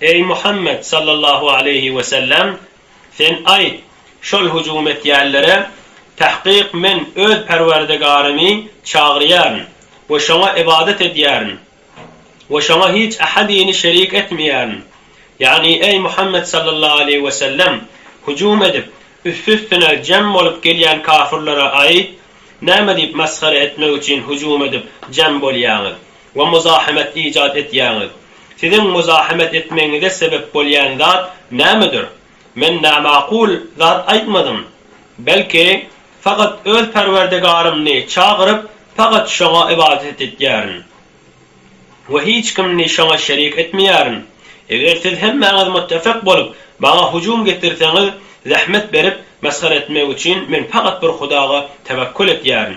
Eý Muhammet sallallahu aleýhi we sellem! Sen aýt, şol hüjüm etýänlere, Tahkyk men Öz Perwerdigarymy çagyrýaryn we şoňa ybadat edýärin we şoňa hiç ähadini şerik etmeýärin, ýagny, eý Muhammet sallallahu aleýhi we sellem! Hüjüm edip, üsti-üstüne jem bolup gelýän kafirlere aýt, Näme diýip masgara etmek üçin hüjüm edip jem bolýaňyz? we muzahemet ijat etýäňiz. Siziň muzahemet etmegiňize sebep bolýan zat nämedir? Men namakul zat aýtmadym. Belki, faqat öz Perwerdigarymny çagyryp, faqat Şoňa ybadat etýärin we hiç kimini Şoňa şerik etmeýärin. Eger siz hemmäňiz muttefyk bolup, maňa hüjüm getirseňiz, zähmet berip, mesgere etmek üçin, men faqat bir Hudaga tewekkül etýärin.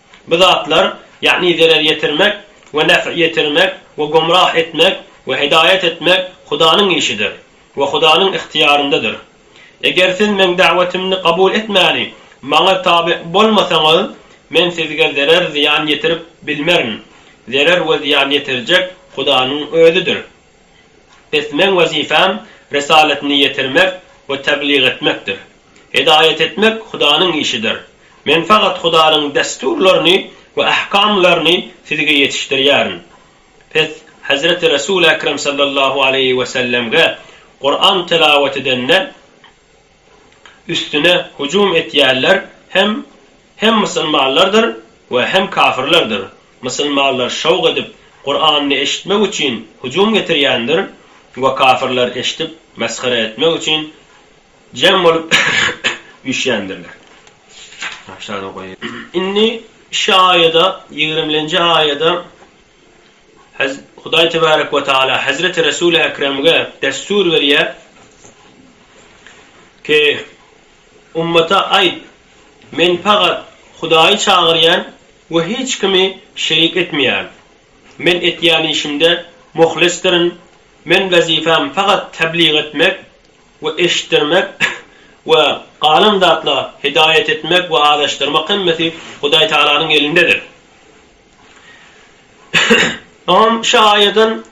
Bu zatlar, ýagny zerer ýetirmek we nef ýetirmek we gomrah etmek we hidaýat etmek Hudanyň işidir we Hudanyň ygtyýaryndadyr. Eger siz Meň dawetimi kabul etmäni Maňa tabe bolmasaňyz, Men sizge zerer zyýan ýetirip bilmerin. Zerer we zyýan ýetirjek Hudanyň Özüdir. Bes Meň wezipem Risaletini ýetirmek we tebliğ etmekdir. Hidaýat etmek Hudanyň işidir. Men fakat Hudanyň dessurlaryny we ahkamlaryny sizge ýetişdirýärin. Pes Hezreti Resul Ekrem sallallahu aleýhi we sellemge Kuran telawat edende üstüne hujum etýärler hem hem musylmanlardyr we hem kafirlerdir. Musylmanlar şowk edip Kuranyny eşitmek üçin hujum getirýändir we kafirler eşdip mesgere etmek üçin Jem bolup üýşýändirler. Indi şu aýada, ýigrimlenji aýada Hudaý Tebarek we Tagala Hezreti Resuli Ekremge dessur berýär ki, ummata aýt, Men pagat Hudaýy çagyrýan we hiç kimi şerik etmeýän. Men etýän işimde muhlisdirin. Men wezipam pagat tebligat etmek. we eşitdirmek we galan zatlar, hidaýat etmek we azaşdyrmak hemmesi Hudaý Tagalanyň elindedir. Oňam şu aýadan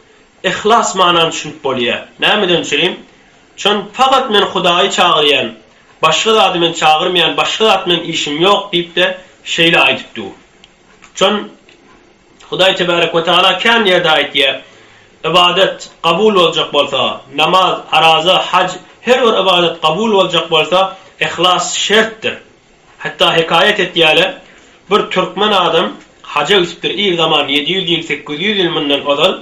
yhlas manany düşünip bolýar. Nämeden düşüneýin? Çün fakat men Hudaýy çagyrýan, başga zady men çagyrmaýan, başga zat bilen işim ýok diýip-de şeýle aýdyp dur. Şon Hudaý Tebarek we Tagala kän ýerde aýtýar, Ybadat kabul boljak bolsa, namaz, araza, haj, her bir ybadat kabul boljak bolsa, yhlas şertdir. Hatda hekaýat etýärler, bir türkmen adam haja gitipdir, ir zaman, ýedi ýüz ýyl, sekiz ýüz ýyl mundan ozal,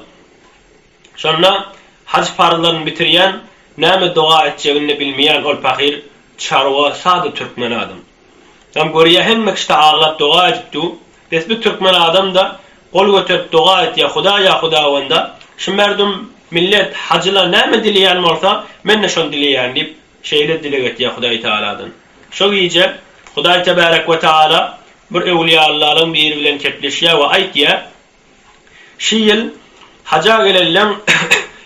Şonda haj parzlaryny bitirýän, näme doga etjegini-de bilmeýän ol pahyr çarwa sada türkmen adam. Ýam görýä hemme kişide aglap doga edip du, bes bi türkmen adam-da gol göterip doga et ýa huda ýa hudawanda, şi merdum, millet, hajylar näme dileýän bolsa, men-de şony dileýän diýip, şeýle dileg etýä hudaý tagaladan. Şo gije hudaý tebärek we taala bir öwliýallaryň biri bilen kepleşýä we aýtýä, Şi ýyl haja gelenleň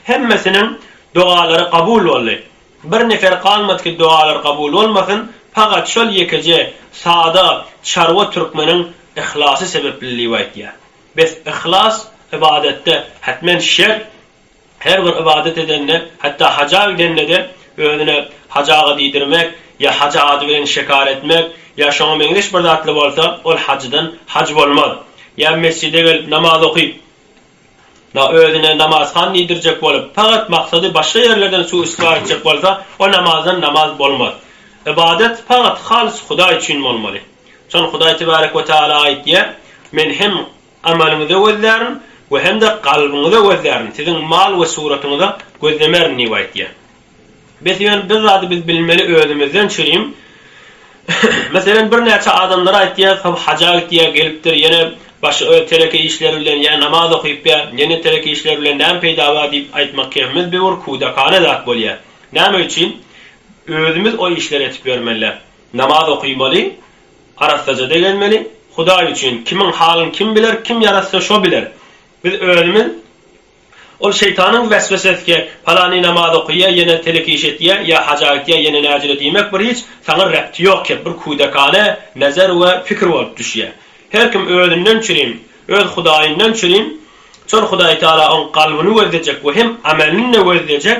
hemmesiniň dogalary kabul boldy. Bir nefer galmady ki dogalary kabul bolmasyn, pagat şol ýekeje sada çarwa türkmeniň yhlasy sebepliligibaýtýar. Bes yhlas ybadatda hatmen şert. Her bir ybadat edende, hatda haja gidende-de özüne haj aga diýdirmek, ýa haj ady bilen şekar etmek, ýa şoňa meňzeş bir zatly bolsa, ol hajydan haj bolmaz. Ýa mesjide gelip namaz okyp, na özüne namazhan diýdirjek bolup, pagat maksady başga ýerlerden suw-istigfar etjek bolsa, o namazdan namaz bolmaz. Ybadat pagat halys Hudaý üçin bolmaly. Şon Hudaý tebarek we taala aýtýar, Men hem Amalyňyza gözlärin we hem-de kalbyňyza gözlärin, siziň mal we suratyňyza gözlemerin diýip aýtýar. Bes ýöne bir zady biz bilmeli özümizden çyrim, meselem birnäçe adamlara aýtýas hop haja gitýär gelipdir ýene başy öz teleki işleri bilen ýa namaz okyp ýa ýene teleki işleri bilen näme peýda bar diýip aýtmak kebimiz bir bir kudakane zat bolýar. Näme üçin özümiz o işleri etip ýörmeli, namaz okymaly, Arassaja begenmeli, Hudaý üçin, kimiň halyn kim biler, kim ýarassa şo biler. Biz özümiz Ol şeýtanyň weswesesike, palany namaz okaýa, ýene telek iş etýä, ýa haja gitýä, ýene näjile diýmek bir hiç saňa rebti ýok kep bir küdekane nezer we pikir bolup düşýä. Her kim özünden çürin, öz Hudaýyndan çürin, çor Hudaýtagala oň kalbyny gözlejek we hem amelini-de gözlejek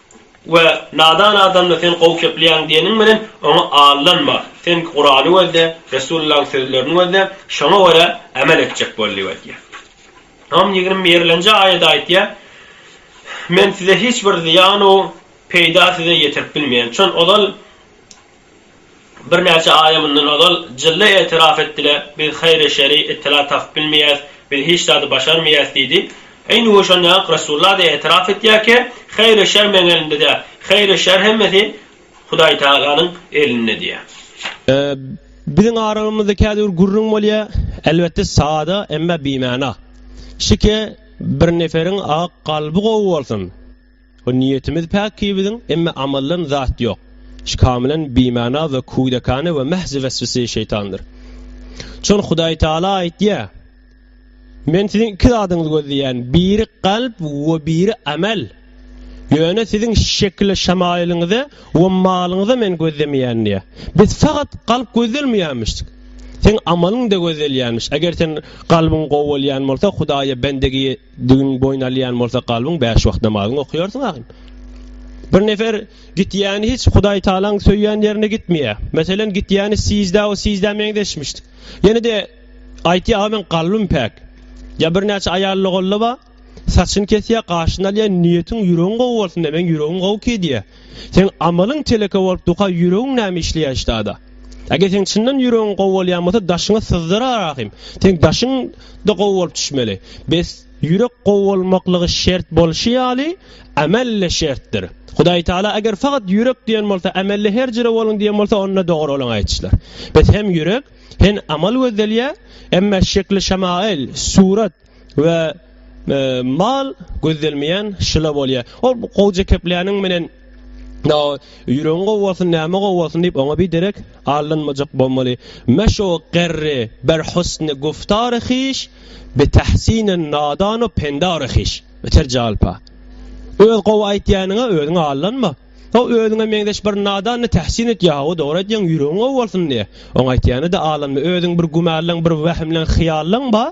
We nadan adamda sen gowy keplýäň diýeniň bilen oňa aldanma. Sen Kurany gözle, Resulyllaň sözlerini gözle, şoňa görä amel etjek bol diýip aýtýar. Imam ýigrimi birlenji aýada aýtýar, Men size hiç bir zyýan-u peýda size ýetirip bilmeýän, çün ozal Birnäçe aýa mundan ozal Jylla etiraf etdi-de, Biz haýry-şeri, itila tapyp bilmeýäs, biz hiç zady başarmaýas diýdi. Eýni gün şonda-ak Resulla-da etiraf etýärkä, Haýry-şer meň elimde däl. Haýry-şer hemmesi Hudaýtagalanyň elinde diýýär. Biziň aralygymyzda kädibir gürrüň bolýar, elbetde sada, emma bimana. Şike, bir neferiň-a kalby gowy bolsun! O niýetimiz päk ki biziň, emme amaldan zat ýok. Şu kamilen bimana we kudakane we mähz weswese şeýtandyr. Çün Hudaý Taala aýtýa, Men siziň iki zadyňyzy gözleýän, biri kalp we biri amel. Ýöne siziň şekile şamaýylyňyzy we malyňyzy men gözlemeýän diýýä. Biz fakat kalp gözlelmeýämişdik. Seň amalyň da gözleýänmiş. Eger sen kalbyň gowy bolýan bolsa Hudaýa bendegi Düwün boýun alýan bolsa kalbyň bäş wagt namazyňy okaýarsyň agam. Bir nefer gitýäni hiç Hudaý Taalaň söýýän ýerine gitmeýär. Meselem gitýäni sizda o sizda meňzeşmişdi. Ýene de aýtýar agam men kalbym päk. Ýa bir näçe aýal logolla ba saçyny kesýär, gaşyny alýar, niýetiň ýüregiň gowy bolsun de, meň ýüregim gowy ki diýär. Seň amalyň teleke bolup duka ýüregiň näme işleýär ştada. Eger seň çyndan ýüregiň gowy bolýan bolsa daşyňy syzdyra rahym. Seň daşyň da gowy bolup düşmeli. Bes ýürek gowy bolmaklygy şert bolşy ýaly amelle şertdir. Hudaý taala eger fakat ýürek diýen bolsa amelle her jire boluň diýen bolsa onda dogry bolan aýtýşlar. Bes hem ýürek hen amal gözdelýär emma şekli şamail, surat, we mal gözdelmeýän şyla bolýar. Ol gowja kepläniň menen ýüregiň gowy bolsun, näme gowy bolsun diýip oňa bir derek allanmajak bolmaly. Meşo gerri ber husny guftar hiş, bi tahsin nadan we pendar hiş. Öter jalpa. Öz gowy aýtýanyňa özüňe allanma. O özüňe meňzeş bir nadan ne tahsin et ýa, o dogry aýtýaň, ýüregiň gowy bolsun diýe. Oň aýtýany da allanma. Özüň bir gümälaň, bir wehimlaň, hyýallaň ba.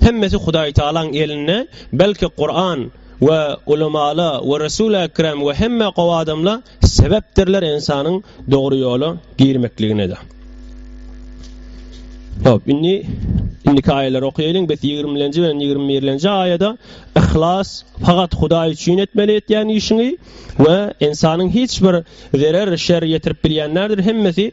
Hemmesi Hudaýtagalaň elinde, belki Kuran we ulemala we Resul Ekrem we hemme gowy adamla sebepdirler insanyň dogry ýola girmekliginede. Hop, indi indiki aýalar okaýalyň, biz 20-nji bilen 21-nji aýada ihlas fakat Hudaý üçin etmeli etýän işiňi we insanyň hiç bir zerer şer ýetirip bilýän nädir hemmesi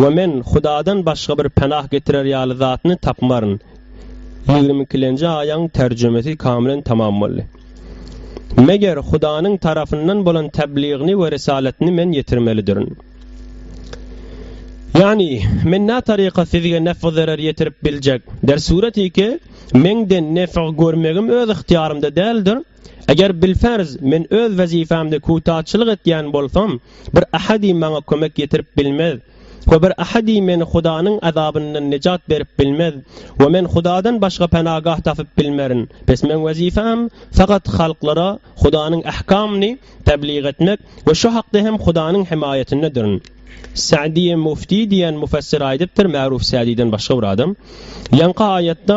We men Hudadan başga bir penah getirer ýaly zatyny tapmaryn. Ýigrimi ikilenji aýaň terjimesi kamilen tamam boldy. Meger Hudanyň tarapyndan bolan tebligyny we risalatyny men ýetirmelidirin. Ýagny, men nä taryka sizge nef-zerer ýetirip biljek? Der sureti ki, menden nef görmegim öz ygtyýarymda däldir. Eger bilferz men öz wezipemde kutaçylyk etýän bolsam, bir ahadi maňa kömek ýetirip bilmez we bir ahadi meni Hudanyň azabyndan nejat berip bilmez we men Hudadan başga penagah tapyp bilmerin. Bes meň wezipem fakat halklara Hudanyň ahkamyny tebliğ etmek we şu hakda hem Hudanyň hemaýatyndadyrin. Sa'diýe Mufti diýen mufessir aýdypdyr, Ma'ruf Sa'diden başga bir adam, ýaňky aýatda,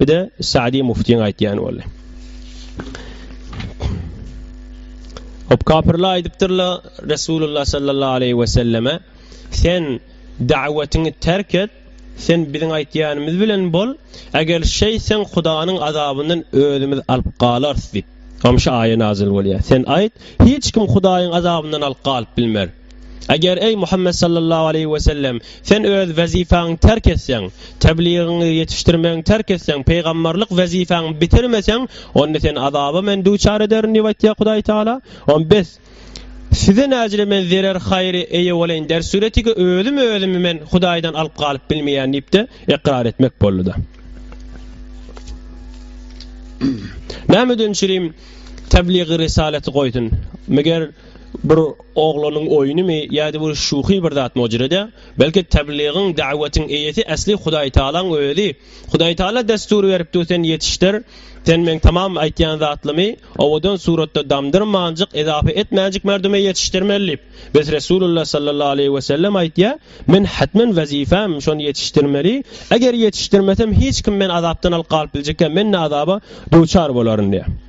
Bir-de Sa'di muftiň aýtýany boldy. Hop kapyrlar aýdypdyrlar Resulullah sallallahu aleyhi ve selleme sen davetini terk et sen biziň aýtýanymyz bilen bol eger şeý sen hudanyň azabyndan özümiz alyp galarys diýip. Gamşy aýa nazil bolýar. Sen aýt, hiç kim Hudaýyň azabyndan alyp galyp bilmer. Eger, eý Muhammet sallallahu aleýhi we sellem, sen öz wezipäňi terk etseň, tebligiňi ýetişdirmegiňi terk etseň, pygamberlik wezipäňi bitirmeseň, onda seni azaba men duçar ederin diýip aýtýar Hudaý Tagala. On bes. Size näcele men zerer-haýry eýe bolaýyn der süretigi özüm özümi men Hudaýdan alyp galyp bilmeýän diýip-de ykrar etmek boldy-da. Näme üçin çirim tebligi risaleti goýsun? Meger, bir oglanyň oýunymy ýa-da bir şuhy bir zatmy o jire-de? Belki tebligiň, da'wetyň eýesi esli Hudaýtagalaň özi. Hudaýtagala dessur beripdir sen ýetişdir, sen meň tamam aýtýan zatlymy owadan suratda damdyrmanjyk, edafa etmänjik merdüme ýetişdirmeli diýip. Bes Resulullah sallallahu aleýhi we sellem aýtýa, Men hetmen wezifäm şony ýetişdirmeli, eger ýetişdirmesem hiç kim men azapdan alyp galyp biljekkä, men-de azaba duçar bolaryn diýýä.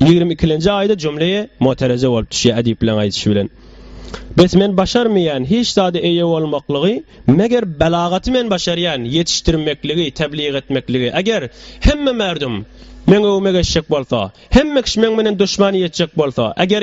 Ýigrimi ikilenji aýda jümle-i motereje bolup düşýär edipliň aýdyşy bilen. Bes men başarmaýan hiç zada eýe bolmaklygy, meger belagaty men başarýan, ýetişdirmekligi, tebligy etmekligi. Eger hemme merdum meň öwüme geçjek bolsa, hemme kişi meň menen duşmany ýetjek bolsa, eger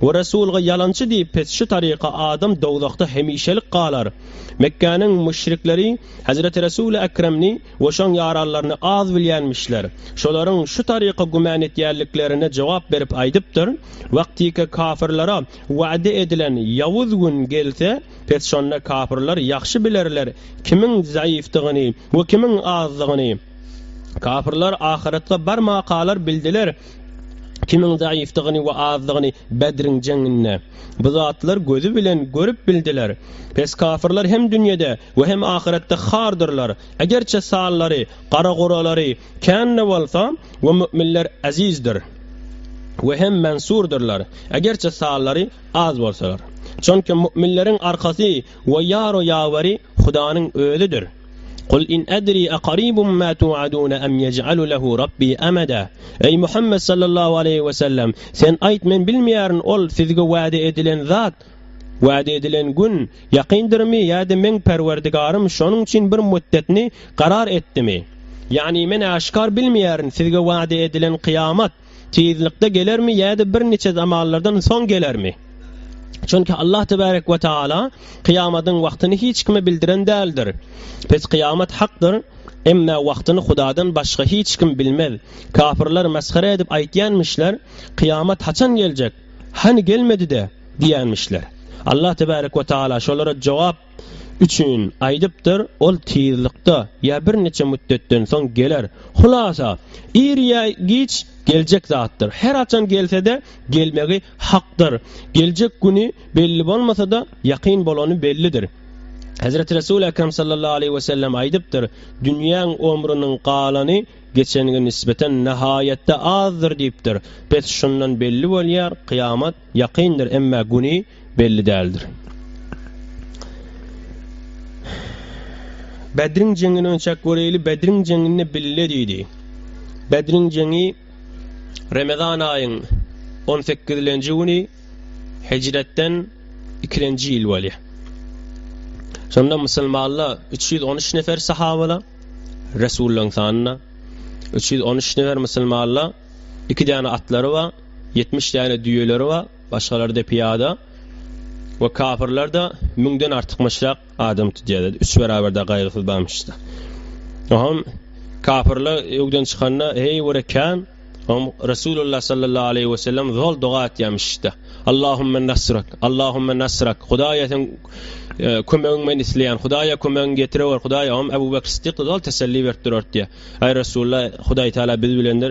We Resulga ýalançy diýip pes şu taryka adam dowzahda hemişelik galar. Mekgäniň müşrikleri Hezreti Resuli Ekremni we şoň ýaranlaryny az bilýänmişler. Şolaryň şu taryka gümän etýänliklerine jogap berip aýdypdyr, Wagtyky kafirlara wada edilen ýawuz gün gelse, pes şonda kafirlar ýagşy bilerler kimiň zaýyfdygyny we kimiň azdygyny. Kafirlar ahyratga barmakalar bildiler. Kimiň zaýyfdygyny we azdygyny Bedriň jeňinde bu zatlar gözi bilen görüp bildiler. Pes kafirler hem dünýede we hem ahyretde hardyrlar. Egerçe sallary, garagoralary, kän-de bolsa, we mü'minler ezizdir we hem mensurdyrlar, egerçe sallary az bolsalar. Çonki mü'minleriň arkasy We ýaro ýawary Hudanyň özüdir. Kul in edri aqaribum ma tuaduna em yec'alu lehu Rabbi emeda. Eý Muhammet sallallahu aleýhi we sellem, sen aýt men bilmeýärin ol, sizge wada edilen zat, wada edilen gün, ýakyndyrymy ýa-da meň Perwerdigarym şonuň üçin bir müddetini garar etdimi. Ýagny men äşgär bilmeýärin sizge wada edilen kyýamat, Tizlikde gelermi ýa-da birniçe zamanlardan soň gelermi? Çünki Allah tebarek we taala kyýamatyň wagtyny hiç kime bildiren däldir. Pes kyýamat hakdyr, emma wagtyny Hudadan başga hiç kim bilmez. Kafirler mesgere edip aýtýanmyşlar, Kyýamat haçan geljek? Hany gelmedi-de? diýenmişler. Allah tebarek we taala şolara jogap üçin aýdypdyr, ol tizlikde ýa birniçe mütdetden soň geler. Hulasa, ir ýa giç geljek zatdyr. Her haçan gelse-de, gelmegi hakdyr. Geljek güni belli bolmasa-da, ýakyn bolany bellidir. Hezreti Resul Ekrem sallallahu aleýhi we sellem aýdypdyr, Dünýäň omrüniň galany geçengi nisbeten nahaýatda azdyr diýipdir. Bes şundan belli bolýar, kyýamat Ýakyndyr, emma güni belli däldir. Bedriň jeňini ölçäp göreýli, Bedriň jeňinde bille diýdi. Bedriň jeňi Remezan aýyň on sekizilenji güni Hijretden ikilenji ýyl bolýar. Şonda musulmanlar üç ýüz on üç nefer sahabala, Resullaň sanyna üç ýüz on üç nefer musulmanlar iki däne atlary bar. Ýetmiş däne düýeleri bar, başgalary-da pyýada we kapyrlar-da müňden artykmyşrak adam tutýardy, üç beraber-de gaýgysyz barmyşda. Oňam kapyrlar öwden çykanda, heý görä kän, oňam Resulullah sallallahu aleýhi we sellem zol doga etýärmişde. Allahumma nasrak, Allahumma nasrak, Hudaýa seň e, kömegiň men isleýän, Hudaýa kömegiň getirewer, Hudaýa oňam Abu Bakr Siddik zol teselli berip durardy. Aý Resulullah, Hudaý Taala biz bilendir.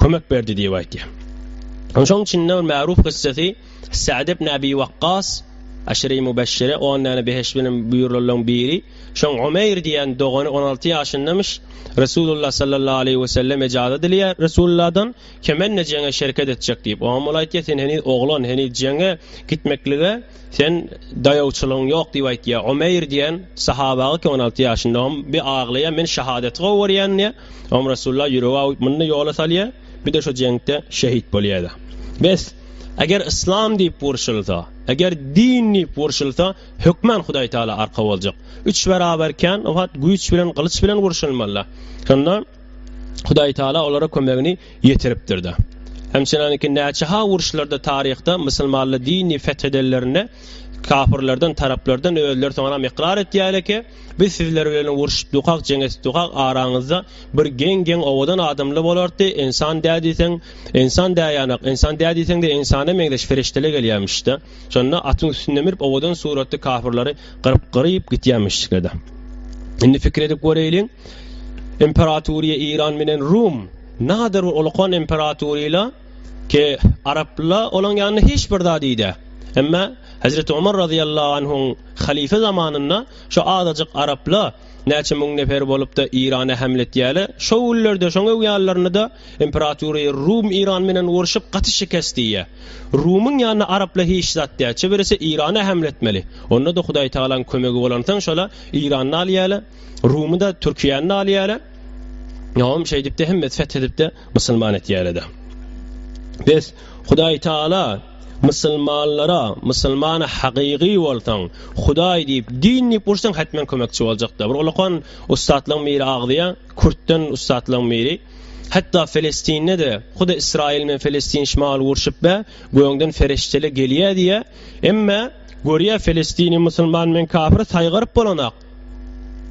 kömek berdi diýip aýtýar. Şoň içinde bir märup kyssasy Sa'd ibn Abi Waqqas Aşyry Mübeşşire 10 däne beheş bilen buýrulanlaryň biri. Şoň Umeýr diýen dogany 16 ýaşyndamyş. Resulullah sallallahu aleýhi we sellem ejaza dileýär Resulullahdan, Kemende jeňe şerket etjek diýip. Oňam ol aýtýar, Sen heniz oglan, heniz jeňe gitmeklige Sen daýawçylygyň ýok diýip aýtýa. Omeýr diýen sahabagyk on alty ýaşynda on bir aglaýa men şahadeti gowarýan diýä. Om Resulullah ýüregi awyp muny ýola salýa. Bir de şu jeňkde şehit bolýada. Bes. Eger yslam diýip wurşylsa, eger din diýip wurşylsa hökman Hudaý Taala arka boljak. Üç beraber kän o hat güýç bilen gylyç bilen wurşylmalyda. Şonda Hudaý Taala olara kömegini ýetiripdir-de. Ençemeniňki näçe-ha uruşlarda taryhda musulmanly dini feth edenlerinde kapyrlardan, taraplardan özleri soňanam ykrar etýärler ki, biz sizler bilen uruşyp dukak, jeň etip dukak, araňyzda bir geň-geň owadan adamlar bolardy, ensan dä diýseň, ensan dä ýanak, ensan dä diýseň-de ensana meňzeş ferişdeler gelýärmiş-de. Şonda atyň üstünde münüp owadan suratly kafirleri gyryp-gyryp gitýämişikledi. Indi pikir edip göreýliň, imperatoriýa Iran menen Rum, nadir bir ulukan imperatoriýla ke arapla olaň ýanynda hiç bir zat iýde. Emma Hezreti Omar razyýallahu anhuň halife zamanynda şu azajyk arapla Näçe müň nefer bolup-da Irana hämletýäle, şo günlerde şoň öwýanlaryny-da Imperatury Rum Iran menen urşup gaty şikes diýýä. Rumyň ýanyna Arapla hiç zat dä, çeberisi Irana hämletmeli. Onda-da Hudaýtagalaň kömegi bolansoň şola Irany-da alýäle, Rumy-da, Türkiýäni-de alýäle. Ýa-am şeýdip-de hemmesi feth edip-de musulman etýäle-de. Bes, Hudaý Taala Musulmanlara, Musulmana hakyky bolsaň, Hudaý diýip, din diýip ursaň hetmen kömekçi boljakda. Bir ulakan ussatlaň biri agzýa, Kürtden ussatlaň biri. Hatda Filistinde de, huda Israil bilen Filistin şmal urşup be, göňden feriştele gelýä diýä. Emme görýä Filistini Musulman bilen kafiri saýgaryp bolanak.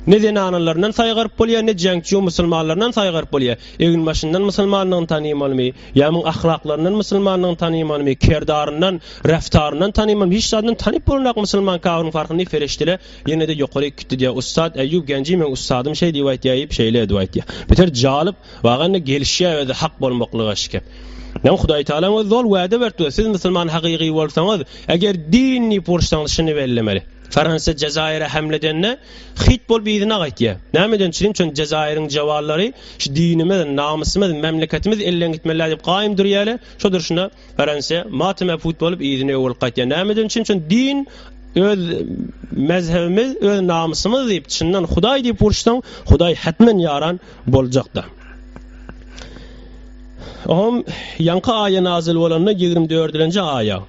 Ne zenanlaryndan saýgaryp bolýar, ne jeňçu musulmanlaryndan saýgaryp bolýar. Eginbaşyndan musulmandygyny tanymalymy? Ýa muň ahlaklaryndan musulmandygyny tanymalymy? Kerdaryndan, reftaryndan tanymalymy? Hiç zadyndan tanyp bolunok musulman kabyryň farkyny Fereştele ýene-de ýokaryk gitdi diýýär. Ussat Eýýub Genji meň ussadym şeý diýip aýtýar iýip şeýle edip aýtýar. Beter jalyp waga indi gelişýär özi hak bolmaklyga şikep. Näme Hudaý Tagalaň özi zol wäde beripdi. Siz musulman hakygy bolsaňyz, eger din diýip uruşsaňyz şuny bellemeli. Fransiýa Jezaire hemle edende, Hyt bolup yzyna gaýtýa. Nämeden çydyň şony Jezairiň jawallary şu dinimiz, namysymyz, memleketimiz elden gitmelä diýip gaýym durýale, şo durşuna Fransiýa mateme put bolup yzyna öw bolup gaýtýa. Nämeden çyn şony din öz mezhebimiz, öz namysymyz diýip çyndan Hudaý diýip uruşsaň, Hudaý hetmen ýaran boljakda. Ohm ýaňky aýa nazyl bolanda ýigrimi dördülenji aýa.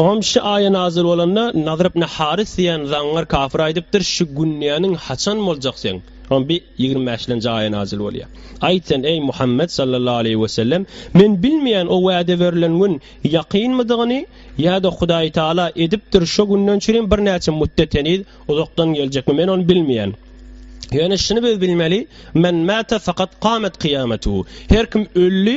Oňam şu aýa nazil bolanda Nazr ibn Haris diýen zaňňar kafir aýdypdyr, şu günýäniň haçan boljak sen? Oňa bir 25-lenji aýa nazil bolýar. Aýt sen, eý Muhammet sallallahu aleýhi we sellem, men bilmeýän o wada berlen gün ýakynmydygyny ýa-da Hudaý Taala edipdir, şu günden çürin birnäçe müddet heniz uzakdan geljekmi, men ony bilmeýän. Ýöne şuny biz bilmeli, men mata fakat qamat qiyamatuhu. Her kim öldi,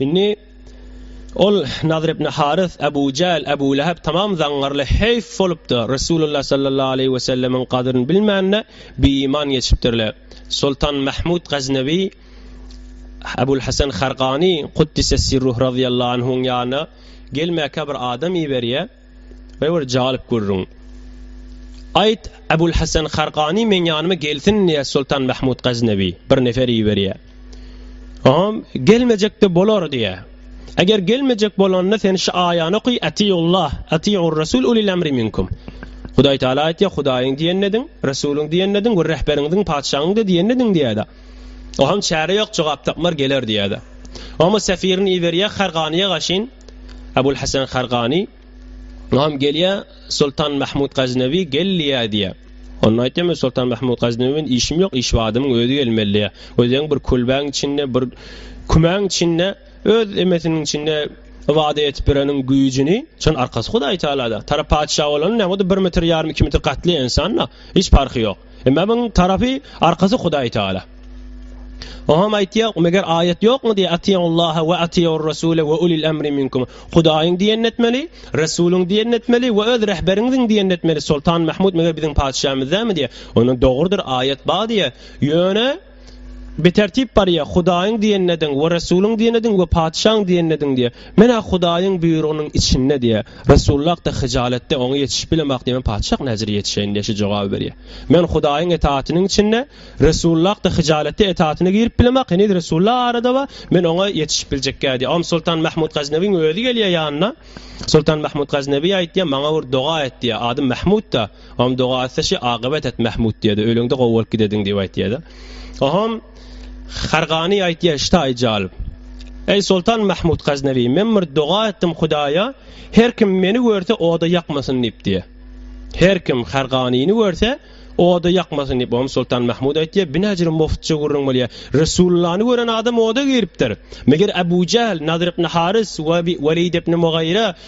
Indi ol Nadyr ibn Harys, Abu Jähl, Abu Läheb tamam zaňňarly heýf bolupdy, Resulullah sallallahu aleýhi we sellemiň gadryny bilmände bieýman geçipdirler. Soltan Mahmud Gaznawi Abul Hasan Hargany Kuddisessirruh razyýallahu anhuň ýanyna gelmäkä bir adam iberýär. Meni bir jalyp gürrüň. Aýt, Ebul Hasan Hargany meň ýanyma gelsin diýýär Soltan Mahmud Gaznawi. Bir nefer iberýär. Oňam gelmejekde bolar diýýär. Eger gelmejek bolanda sen şu aýany oky Atiullah, Atiur Rasul ulil amri minkum. Hudaý Taala aýtýar, Hudaýyň diýenini ediň, Resulyň diýenini ediň we rehberiňiziň, patyşaňyň-da diýenini ediň diýýär-de. Oham çäre ýok jogap tapmar geler diýädä. Oham sefirini iberýä Harganyýa gaşyn. Abul Hasan Hargani Oham gelýä Sultan Mahmud Gaznawi gelýä diýä. Onda aýtýam Sultan Mahmud Gaznawi men işim ýok, iş badymyň özi gelmeli diýä. Özüň bir kulbäň içinde, bir kümäň içinde, öz emesiniň içinde ibada etip bereniň güýjini, şon arkasy Hudaý Taalada. Tarap patyşa bolan näme bir metr ýarym iki metr gatly ensanda hiç parhy ýok. Emma muň tarapy arkasy Hudaý Taala. Oňam aýtýar, meger aýat ýokmy diýe Atiýullaha we Atiýur Rasule we ulil emri minkum. Hudaýyň diýen etmeli, Resulyň diýen etmeli we öz rehberiňiziň diýen etmeli. Soltan Mahmud meger biziň patyşamyz dämi diýe. Onuň dogrudyr aýat bar diýe. Ýöne Bitertip barýa, Hudaýyň diýenini ediň we Resulyň diýenini ediň we patyşaň diýenini ediň diýýä. Men-ä Hudaýyň buýrugynyň içinde diýýä. Resulullah-da hyjaletde, Oňa ýetişip bilemok diýýä, Men patyşak näçe ýetişeýin diýýä, şu jogaby berýä. Men Hudaýyň etatynyň içinde, Resulullah-da hyjaletde etatyna girip bilemok, heniz Resulullah arada bar, men Oňa ýetişip biljekkä diýýä. Oňa Soltan Mahmud Gaznawiň özi gelýä ýanyna. Soltan Mahmud Gaznawi aýtýa, Maňa bir doga et diýýä, adym Mahmud-da. Om doga etse şi agybat et Mahmud diýdi. Öleňde gowy bolup gidediň diýip aýtýardy. Ohom Hargany aýtýar şita aýjal. Eý Sultan Mahmud Gaznawi, men bir doga etdim Hudaýa, her kim meni görse oda ýakmasyn diýip diýär. Her kim Harganyny görse oda ýakmasyn diýip Om Sultan Mahmud aýtýar. Binajir muftça gürrüň bolýar. Resullany gören adam oda giripdir. Meger Abu Jahl, Nadr ibn Haris we Walid ibn Mughira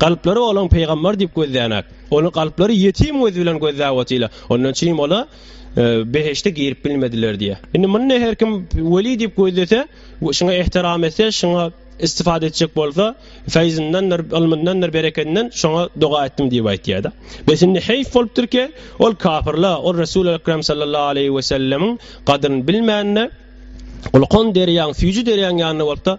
Galplary olaň pygambar diýip gözlänäk. Ony galplary ýetim göz bilen gözläp otyla. Ondan çim ola behişde girip bilmediler diýe. Indi muny her kim weli diýip gözlese, şuňa ehtiram etse, şuňa istifade etjek bolsa, feyzindendir, ylmyndandyr, bereketinden şoňa doga etdim diýip aýtýarda. Bes indi heýf bolupdyr ki, ol kafirla, ol Resul Ekrem sallallahu aleyhi ve sellemiň gadryn bilmände, Gulkon derýaň, süýji derýaň ýanynda bolupda,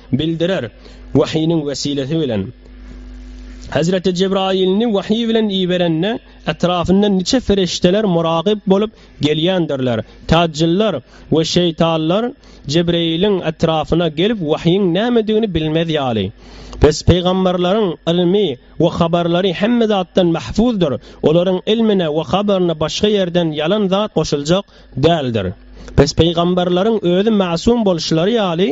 Bildirer. Wahynyň wesilesi bilen. Hezreti Jebraýylyny wahyý bilen iberende, etrafynda niçe ferişdeler muragyp bolup gelýändirler. Täjjyllar we şeýtanlar Jebreýiliň etrafyna gelip wahyň nämedigini bilmez ýaly. Pes pygamberleriň ylmy we habarlary hemme zatdan mahfuzdyr, olaryň ylmyna we habaryna başga ýerden ýalan zat goşuljak Däldir. Pes pygamberleriň özi masum bolşulary ýaly,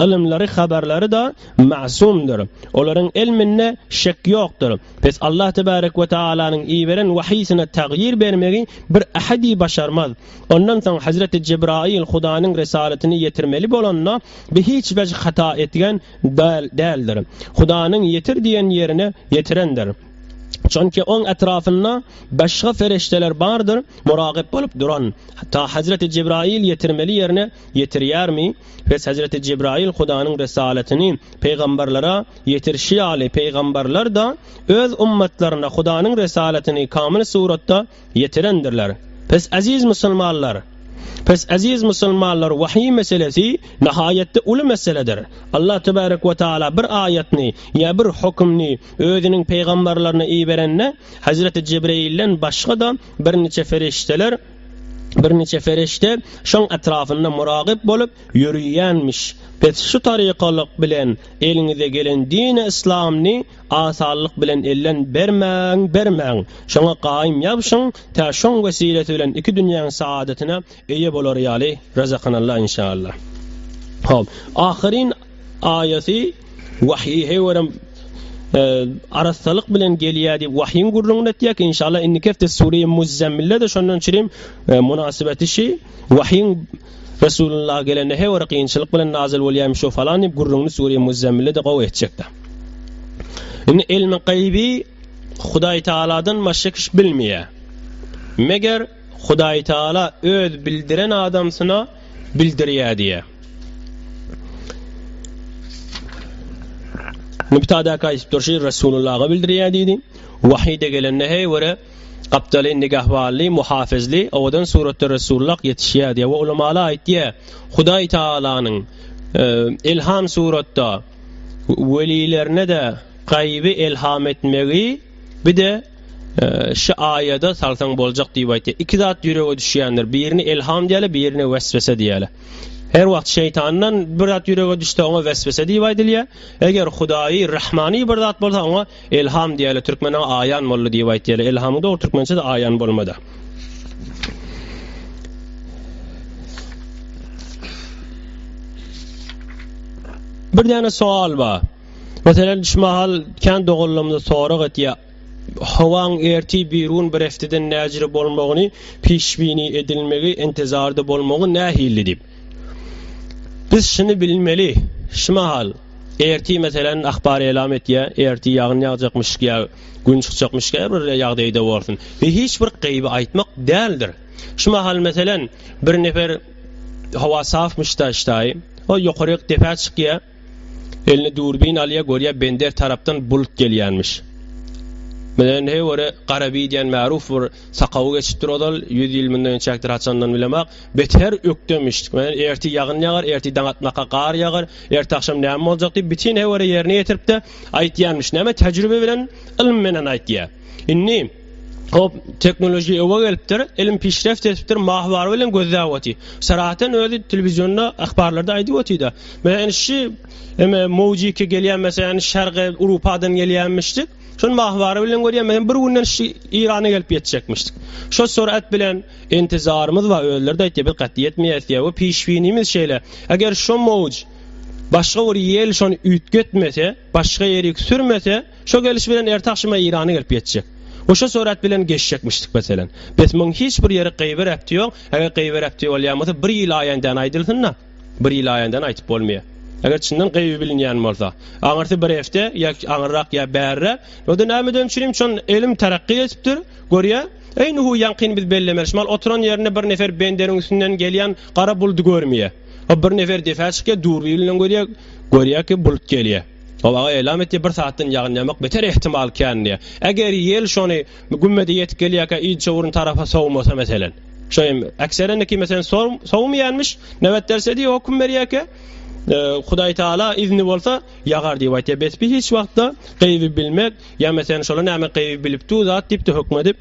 ylymlary, habarlary-da masumdyr. Olaryň ilminde şek ýokdur. Pes Allah tebarek we taalanyň iberen wahysyna tagýyr bermegi bir ahadi başarmaz. Ondan soň Hazreti Jebraýyl Hudanyň risalatyny ýetirmeli bolanda, bi hiç wejh hata etgen däldir. Hudanyň ýetir diýen ýerine ýetirendir. Çünki oň etrapynda başga ferişdeler bardyr, muragyp bolup duran. Ta Hazreti Jibraýyl ýetirmeli ýerine ýetirýärmi? Bes Hazreti Jibraýyl Hudanyň risalatyny pygamberlere ýetirişi ýaly, pygamberler-de öz ummatlaryna Hudanyň risalatyny kamyl suratda Ýetirendirler. Pes eziz musulmanlar! Pes eziz musulmanlar wahyý meselesi nahaýatda uly meseledir. Allah tebarek we taala bir aýatyny ýa bir hökümni özüniň pygamberlerine iberende Hazreti Jibreilden başgada birniçe ferişdeler birniçe ferişde şoň etrafynda muragyp bolup ýöriýänmiş. Pes şu tarykalyk bilen eliňize gelen dini islamny Asallyk bilen ellen bermäň, bermäň! Şoňa gaýym ýabşyň, tä şoň wesilesi bilen iki dünýäň saadatyna eýe bolar ýaly, Razakanalla inşalla. Hop, ahyryn aýaty wahýe görem arassalyk bilen gelýär diýip wahýiň gürrüňini etýäk. Inşalla indiki hepde Sure-i Muzzemmilde-de şondan çirim e, mynasybeti şi wahýiň Resulullah gelende he bir kynçylyk bilen nazyl bolýaýmyş o falan diýip gürrüňini Sure-i Muzzemmile-de gowy etjekdi. Indi ilmi gaýby Hudaý Tagaladan başga kişi bilmeýär. Meger Hudaý Tagala öz bildiren adamsyna bildirýär diýýär. Mübtadäki aýdyp durşy Resulullaha bildirýär diýdi. Wahyde gelende he bir Gapdaly nigahbanly, muhafizli, owadan suratda Resulullah ýetişýär diýýär we ulamalar aýtýar, Hudaý Tagalanyň ilham suratda welilerine-de gaýyby ilham etmegi bir-de şu aýada salsaň boljak diýip aýtýar. Iki zat ýürege düşýändir, birini ilham diýerler, birini weswese diýerler. Her wagt şeýtandan bir zat ýürege düşse, oňa weswese diýip aýdylýar. Eger Hudaýy Rahmany bir zat bolsa, oňa Elham diýeli türkmene aýan boldy diýip aýtýaly elhamyň dogry türkmençesi aýan bolmada. Bir däne soal ba. Meselem şu mahal kän doganlarymyz sorag etýär. Howaň erti birun bir efteden näjire bolmagyny, pişbini edilmegi, intizarda bolmagy nähilli diýip. Biz şuny bilmeli, şu mahal, erti meselem ahbar elam etýär, erti ýagyn ýagjakmyş ýa gün çykjakmyş käbir bir ýagdaýda bolsun. Biz hiç bir gaýby aýtmak däldir. Şu mahal meselem bir nefer howa safmyş daşdaý, ol ýokaryk depä çykýar. Eline durbin alýa görýä bender tarapdan bulut gelýänmiş. Bilenhe göre gara bi diýen märuf bir sakawy geçipdir ozal ýüz ýyl mundan ençäkdir haçandan bilemak bet her ökdemiş men erti ýagyn ýagar erti daň atmaka gar ýagar erti agşam näme boljak diýip bitin he göre ýerine ýetiripde aýtýanmiş näme tejribe bilen ylym menen aýtýa indi Hop, teknoloji öňe gelipdir, ilim pişreft etipdir, mahbar bilen gözläp otyr. Sarahatdan özi telewizionda, ahbarlarda aýdyp otyr-da. Men şu eme Mojiki gelýän meseleni Şarga Urupadan gelýänmişdi. Şol mahbar bilen görýän, men bir günden şu Irana gelip ýetjekmişdi. Şo sorat bilen intizarymyz bar, özleri de aýtdy, bir gat ýetmeýär diýýär. Bu pişwinimiz şeýle. Eger şo moj başga bir ýel şony üýtgetmese, başga ýerik sürmese, Şo geliş bilen erti agşama Eýrana gelip ýetjek. Oşa surat bilen geçjekmişdik meselen. Bes muň hiç bir ýeri gyýbir äpti ýok, eger gyýbir äpti bolýan bolsa bir ýyl aýandan aýdylsynda. Bir ýyl aýandan aýtyp bolmaýar. Eger çyndan gyýby bilinýän bolsa. Aňyrsy bir hefte ýa aňyrrak ýa bärre. Onda näme üçin üçin şon elim tarakki etipdir. Görýä? Eý nuhu ýaňkyn biz bellemeli şmal oturan ýerinde bir nefer benderiň üstünden gelýän gara buldy görmeýä. O bir nefer defä çykýa durbi bilen görýä. Görýä ki bulut gelýä. Ol aňa eýlam etdi, Bir sagatdan ýagynýamak beter ehtimal kän diýýär. Eger ýel şony gümmede ýetip gelýärkä Ilçowrun tarapa sowmasa meselen. Şo hem ekserindiki meselen sowmaýanmyş, nöbet derse diýip hokum berýärkä, Hudaý Taala izni bolsa ýagar diýip aýtýar. Bespy hiç wagtda gyby bilmek ýa meselen şolar näme gyby bilip dur zat diýip-de hökmedip,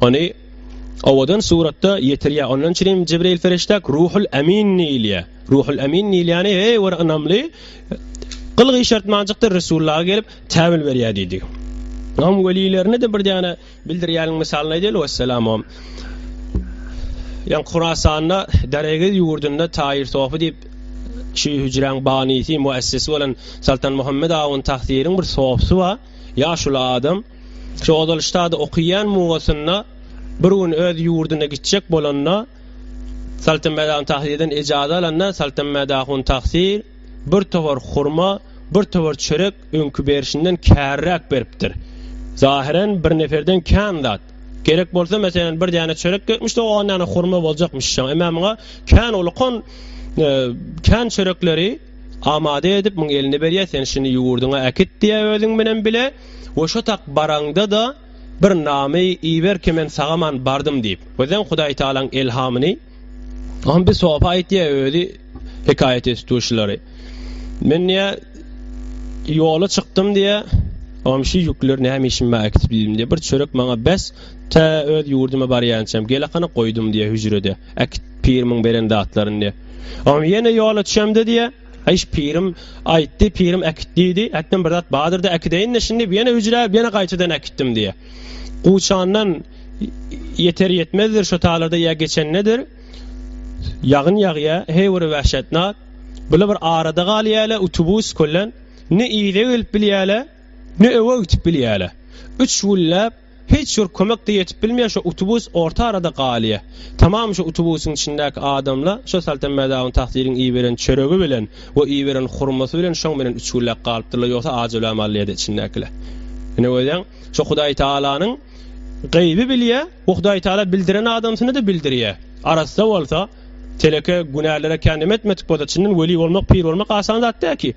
Ony owadan suratda ýetirýär. Ondan üçin hem Jibril ferişde Ruhul Amin diýilýär. Ruhul Amin diýilýäni, eý bir ynamly, gyl gyşartmanjykda Resullaha gelip täwil berýär diýdi. Onuň welilerini de bir däne bildirýäniň mysalyny aýdaýly wessalam o. Ýan Kurasanda, Daregiz ýurdunda Taýir Sofi diýip şu hüjräň banysy, muessisi bolan Saltan Muhammed Awun Tahsiriň bir sofisy bar. Ýaşuly adam. Şu ozal ştada okaýan mugasynda bir gün öz ýurduna gitjek bolanda Saltanmädahun Tahsirden ejaza alanda Saltanmädahun Tahsir bir towar hurma, bir towar çörek öňki berşinden kärräk beripdir. Zahyren bir neferden kän zat. Gerek bolsa meselem bir däne çörek gerekmiş de on däne hurma boljakmyş şoň. Emma muňa kän ulkan e, kän çörekleri amade edip muň eline berýär sen şuny ýurduňa äkit diýýär özüň bilen bile. We şo tak baraňda-da, bir name iberki men sagaman bardym diýip. Birden Hudaý Tagalaň elhamyny Hom bir sopa aýt diýýär özi hekaýat etituşilary. Men diýýär ýola çykdym diýýär. Hom şu ýükleri näme işim bar äkitip ýüzüm diýýär. Bir çörek maňa bes, tä öz ýurduma barýançam gelakana goýdum diýýär hüjrede. Äkit pirimiň beren zatlaryny diýýär. Hom ýene ýola çemde diýýär. Aýş pirim aýtdy, pirim äkit diýdi. Ätdim bir zat bardyr-da äkideýin-de şindi ýene üýjräp, ýene gaýtadan äkitdim diýýär. Guçandan ýeter-ýetmezdir şo taýlarda ýa geçendedir. Ýagyn ýagýar, heý bir wäşetnak. Bular bir arada galýarlar utubus kölen. Ne yza gelip bilýärler, ne öe gitip bilýärler. Üç günläp Hiç bir kömek-de ýetip bilmeýär, şo utubus orta arada galýar. Tamam şo utubusyň içindäki adamla şo Saltan Mädawyň Tahtiriň iberen çöregi bilen we iberen hurmasy bilen şoň bilen üç günläp galypdyrlar, ýogsa ajelam alýardy içindäkiler. Ine görýäň, şo Hudaý Tagalanyň Gaýby bilýär we Hudaý Tagala bildiren adamsyna-da bildirýär. Arassa bolsa, teleke, günälere kän näme etmedik bolsa, çyndan weli bolmak, pir bolmak asan zat däl ki.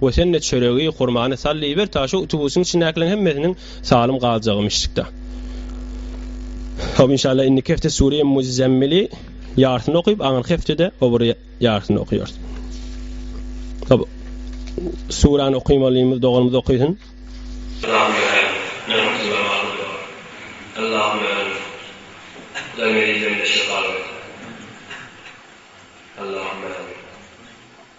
We sen-de çöregi, hurmany sal iber, ta şu utubusyň içindäkileriň hemmesiniň salym galjagy mişşikde. Hop, inşallah, indiki hepde Sûreýi Muzzemmili ýarysyny okyp, aňyrky hepde-de o bir ýarysyny okaýarys. Hop, Sûräni okymalymyz, doganymyz okysyn. Allahum ya Hayy, men huzur namazynda bolar. Allahum ya Rauf, Hudaý meni ýüzüňde şypaly et. Allahum ya Rauf.